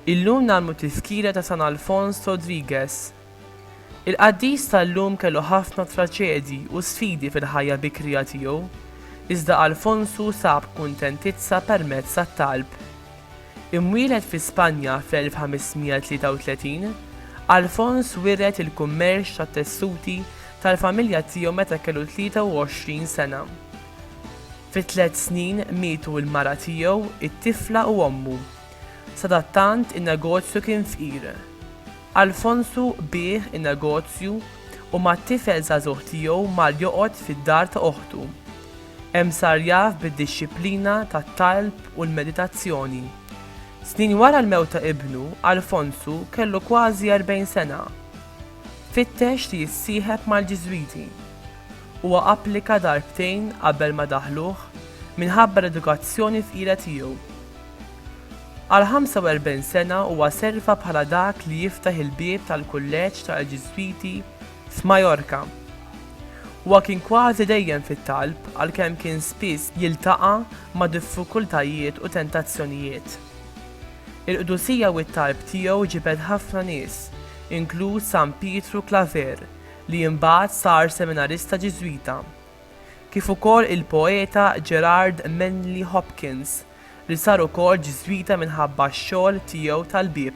Illum nagħmlu tiskira ta' San Alfons Rodriguez. Il-qaddis tal-lum kellu ħafna traċedi u sfidi fil-ħajja bikrija tiegħu, iżda Alfonsu sab kuntentizza permezz tat-talb. Imwieled fi Spanja fl-1533, Alfons wiret il-kummerċ tat-tessuti tal-familja tiegħu meta kellu 23 sena. Fi tliet snin mietu l-mara tiegħu, it-tifla u ommu. Sadattant in-negozju kien fqir. Alfonsu biegħ in-negozju u mat-tifel żagħżugħ tiegħu mar joqgħod fid-dar ta' oħtu. Hemm sar jaf bid-dixxiplina tat-talb u l-meditazzjoni. Snin wara l-mewt ta' ibnu, Alfonsu kellu kważi erbgħin sena. Fittex li jissieħeb mal-Ġiżwiti. Huwa applika darbtejn qabel ma daħluh minħabba l-edukazzjoni fqira tiegħu. Għal 45 sena huwa serva bħala dak li jiftaħ il-bieb tal-Kulleġġ tal-Ġiżwiti f'Majorka. Huwa kien kważi dejjem fit-talb għalkemm kien spiss jiltaqa' ma' diffikultajiet u tentazzjonijiet. Il-qdusija u t-talb tiegħu ġibed ħafna nies, inkluż San Pietru Claver li imbagħad sar seminarista Ġiżwita, kif ukoll il-poeta Gerard Manley Hopkins li sar ukoll Ġiżwita minħabba x-xogħol tiegħu tal-bieb.